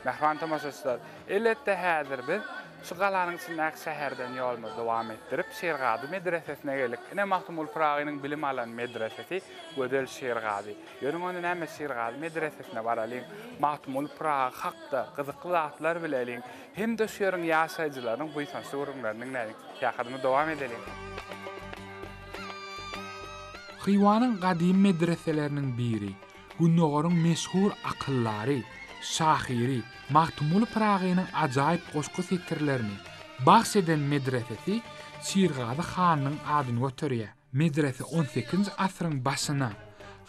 Mähriban tomaşaçylar, elbetde häzir biz şu galanyň içindäki şäherden ýolumyzy dowam etdirip, Şirgazy medresesine geldik. Ine Magtymguly Pyragynyň bilim alan medresesi Gözel Şirgazy. Ýörüň onda näme Şirgazy medresesine baralyň, Magtymguly Pyragy hakda gyzykly zatlar bileliň. hem-de şu ýeriň ýaşaýjylarynyň buýsançly gürrüňlerini diňläliň. Syýahatymy dowam edeliň. Hywanyň gadymy medreseleriniň biri, Gündogaryň meşhur akyldary, şahyry Magtymguly Pyragynyň ajaýyp goşgy setirlerini bagş eden medresesi Şirgazy hanyň adyny göterýär. Medrese on sekizinji asyryň başyna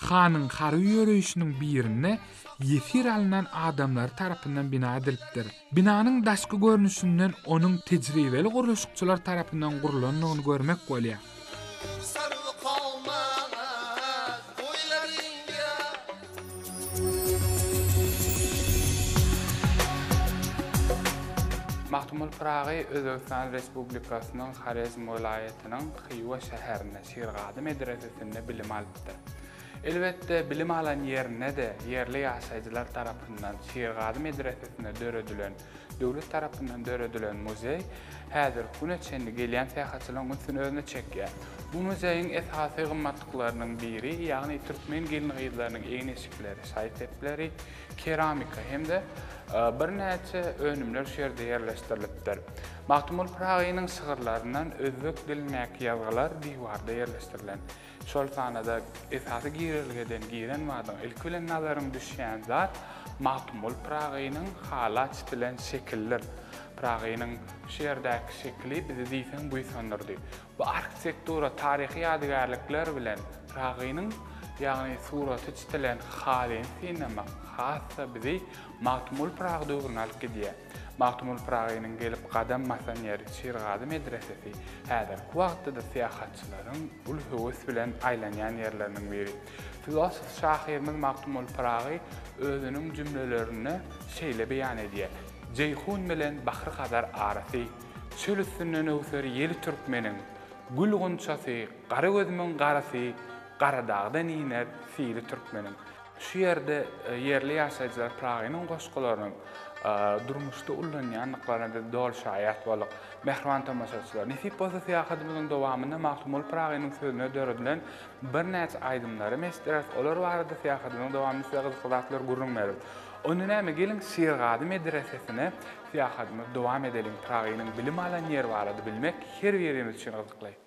hanyň harby ýöreýşiniň birinde ýesir alnan adamlary tarapyndan bina edilipdir. Binanyň daşky görnüşinden onuň tejribeli gurluşykçylar tarapyndan gurlandygyny görmek bolýar. Magtymguly Pyragy Özbegistan Respublikasynyň Horezm welaýatynyň Hywa şäherinde, Şirgazy medresesinde bilim alypdyr. Elbetde, bilim alan ýerinde-de ýerli ýaşaýjylar tarapyndan Şirgazy medresesinde döredilen, döwlet tarapyndan döredilen muzeý häzirki güne çenli gelýän syýahatçylaryň ünsüni özüne çekýär. Bu muzeýiň esasy gymmatlyklarynyň biri, ýagny türkmen gelin-gyzlarynyň egin-eşikleri, şaý-sepleri, keramika hem-de birnäçe önümler şu ýerde ýerleşdirilipdir. Magtymguly Pyragynyň şygyrlaryndan özbek dilindäki ýazgylar diwarda ýerleşdirilen. Şol sanada esasy girelgeden giren badyň ilki bilen nazaryň düşýän zat Magtymguly Pyragynyň hala çitilen şekildir. Pyragynyň şu ýerdäki şekili bizi diýseň buýsandyrdy. Bu arhitektura, taryhy ýadygärlikler bilen Pyragynyň, ýagny suraty çitilen halyny synlamak has-da bizi Magtymguly Pyragy döwrüne alyp gidýär. Magtymguly Pyragynyň gelip gadam basan ýeri Şirgazy medresesi häzirki wagtda-da syýahatçylaryň uly höwes bilen aýlanýan ýerleriniň biri. Filosof şahyrymyz Magtymguly Pyragy özüniň jümlelerinde şeýle beýan edýär, Jeýhun bilen Bahry-Hazar arasy, Çöl üstünden öwser ýeli türkmeniň, Gül gunçasy, gara gözümiň garasy, Garadagdan iner sili türkmeniň. Şu ýerde ýerli ýaşaýjylar Pyragynyň goşgularynyň durmuşda ullanýandyklaryna biz doly şaýat bolduk. Mähriban tomaşaçylar, nesip bolsa syýahatymyzyň dowamynda Magtymguly Pyragynyň sözüne döredilen birnäçe aýdymlary hem eşitdireris, olar barada syýahatymyzyň dowamynda size gyzykly zatlar gürrüň bereris. Onda näme, geliň, Şirgazy medresesine syýahatymyzy dowam edeliň. Pyragynyň bilim alan ýeri barada bilmek her birimiz üçin gyzykly.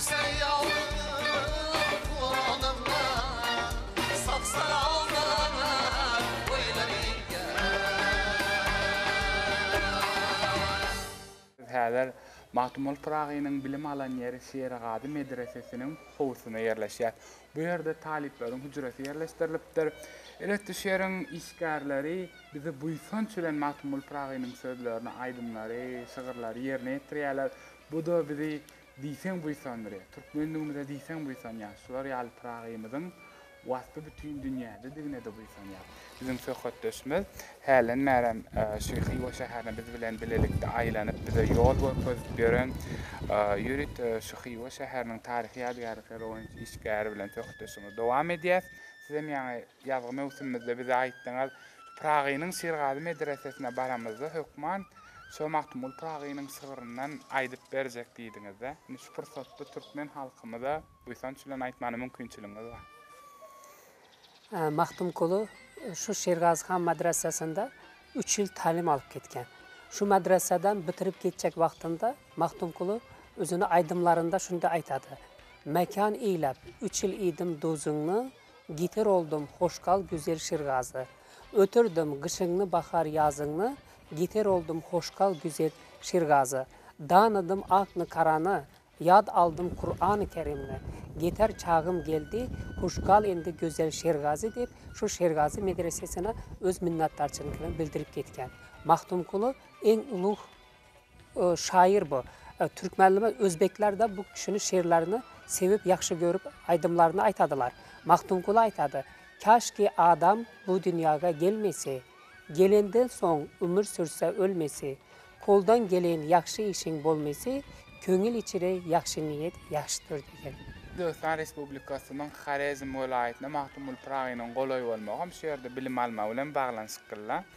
Biz häzir Magtymguly Pyragynyň bilim alan ýeri Şerigady medresesiniň howusynda ýerleşýäs. Bu ýerde talyplaryň hüjresi ýerleşdirilipdir. Elbetde, şu ýeriň işgärleri bizi buýsanç bilen Magtymguly Pyragynyň sözlerini, aýdymlary, şygyrlary ýerine ýetirýärler. Bu-da bizi Diýseň buýsandyry, türkmenligimize diýseň buýsanýas, şular ýaly Pyragymyzyň waspy bütin dünýädedigine-de buýsanýas. Biziň söhbetdeşimiz hälen bärem şu Hywa şäherine biz bilen bilelikde aýlanyp, bize ýol görkezip ýören ýörüt şu Hywa şäheriniň taryhy ýadygärlikleri boýunça işgäri bilen söhbetdeşligimizi dowam edýäs. Sizem ýaňy Ýazgy möwsümimizde bize aýtdyňyz, Pyragynyň Şirgazy medresesine baramyzda hökman şo Magtymguly Pyragynyň şygryndan aýdyp berjek diýdiňiz-dä. Indi şu pursatda türkmen halkymyza buýsanç bilen aýtmana mümkinçiligiňiz bar. Magtymguly şu Şirgazy han madresesinde üç ýyl talim alyp gitgen. Şu madresadan bitirip gitjek wagtynda Magtymguly özüni aýdymlarynda şunday aýtady, Mekan eýläp, üç ýyl iýdim duzyňy, Gitar oldum hoş gal güzel şirgazy Ötürdim gyşyňny bahar ýazyňny Gitar oldum hoş gal güzel şirgazy Danydym akny karany Ýad aldym kurany kerimni Gitar çagym geldi huş gal indi gözel şirgazy diýip şu şirgazy medresesine öz minnatdarçylykyny bildirip gitgen Magtymguly iň ulug Şaýyr bu. Türkmen nime özbeklerde bu kişini şirlerini sevip ýagşy görüp aýdymlaryny aýtadylar. Magtymguly aýtady, Kaşki adam bu dünýaga gelmesi, Gelenden soň ümür sürse ölmesi, Koldan gelen ýagşy işiň bolmesi, Köňül içre ýagşy niýet ýagşydyr diýen. Özbegistan Respublikasynyň Horezm welaýatynda Magtymguly Pyragynyň golaý bolmagam şu ýerde bilim almagy bilen baglanyşyklyla.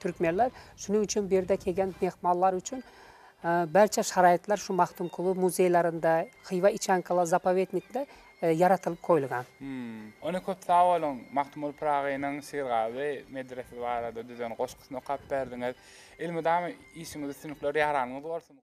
Türkmenler şunuň üçin birde kegen mehmanlar üçin barça şaraýtlar şu Magtymguly muzeýlerinde, Hywa içankalar zapowetnikde ýaratylyp goýulgan. Ony köp sag boluň Magtymguly Pyragynyň Syrgazy medresesi barada düzen goşgusyny okap berdiňiz. Elmydama işiňiz üstünlikler ýaranyňyz bolsun.